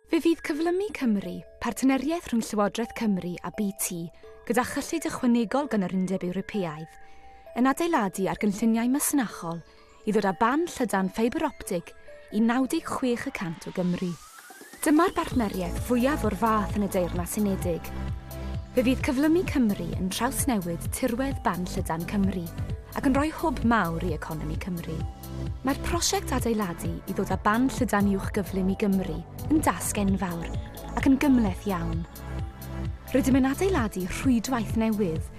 Fe fydd Cyflymu Cymru, partneriaeth rhwng Llywodraeth Cymru a BT gyda chyllid ychwanegol gan yr Undeb Ewropeaidd, yn adeiladu ar gynlluniau masnachol i ddod â ban llydan ffeibr optig i 96 y cant o Gymru. Dyma'r bartneriaeth fwyaf o'r fath yn y Deyrnas Unedig. Fe fydd cyflymu Cymru yn trawsnewid tirwedd ban llydan Cymru ac yn rhoi hwb mawr i economi Cymru. Mae'r prosiect adeiladu i ddod â ban llydan uwch gyflym i Gymru yn dasg enfawr ac yn gymhleth iawn. Rydym yn adeiladu rhwydwaith newydd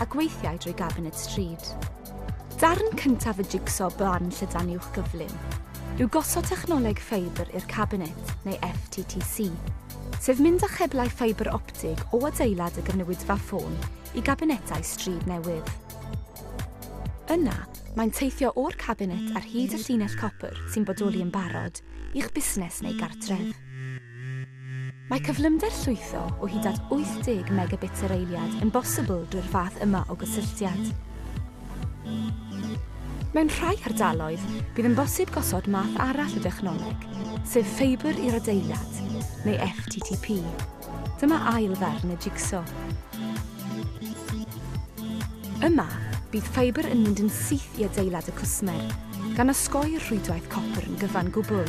a gweithiai drwy Gabinet Stryd. Darn cyntaf y jigso blan llydan uwch gyflym yw gosod technoleg ffeibr i'r Cabinet, neu FTTC, sef mynd â cheblau ffeibr optig o adeilad y gynulleidfa ffôn i gabinetau stryd newydd. Yna, mae'n teithio o'r cabinet ar hyd y llinell copr sy'n bodoli yn barod i'ch busnes neu gartref. Mae cyflymder llwytho o hyd at 80 megabits yr eiliad yn bosibl drwy'r fath yma o gysylltiad. Mewn rhai hardaloedd, bydd yn bosib gosod math arall o dechnoleg, sef ffeibr i'r adeilad, neu FTTP. Dyma ail ddarn y jigso. Yma, bydd ffeibr yn mynd yn syth i adeilad y cwsmer, gan osgoi'r rhwydwaith copr yn gyfan gwbl.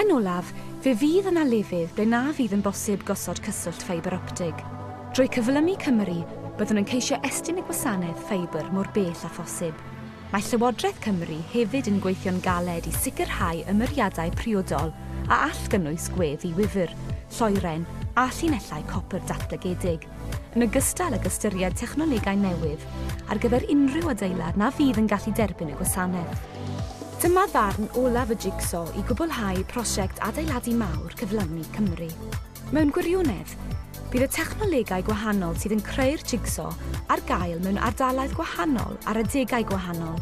Yn olaf, fe fydd yna lefydd ble na fydd yn bosib gosod cyswllt ffeibr optig. Drwy Cyflymu Cymru, byddwn yn ceisio estyn y gwasanaeth ffeibr mor bell â phosib. Mae Llywodraeth Cymru hefyd yn gweithio'n galed i sicrhau ymyriadau priodol a all gynnwys gwedd i wifr, lloeren a llinellau copr datblygedig. yn ogystal ag ystyried technolegau newydd ar gyfer unrhyw adeilad na fydd yn gallu derbyn y gwasanaeth. Dyma ddarn olaf y jigso i gwblhau prosiect adeiladu mawr cyflawni Cymru. Mewn gwirionedd, bydd y technolegau gwahanol sydd yn creu'r jigso ar gael mewn ardaloedd gwahanol ar adegau gwahanol.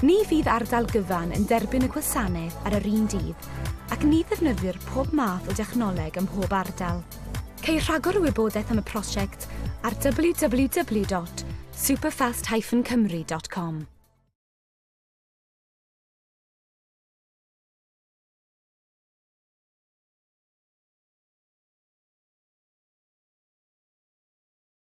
Ni fydd ardal gyfan yn derbyn y gwasanaeth ar yr un dydd ac ni ddefnyddir pob math o dechnoleg ym mhob ardal. Ceir rhagor o wybodaeth am y prosiect ar www.superfast-cymru.com.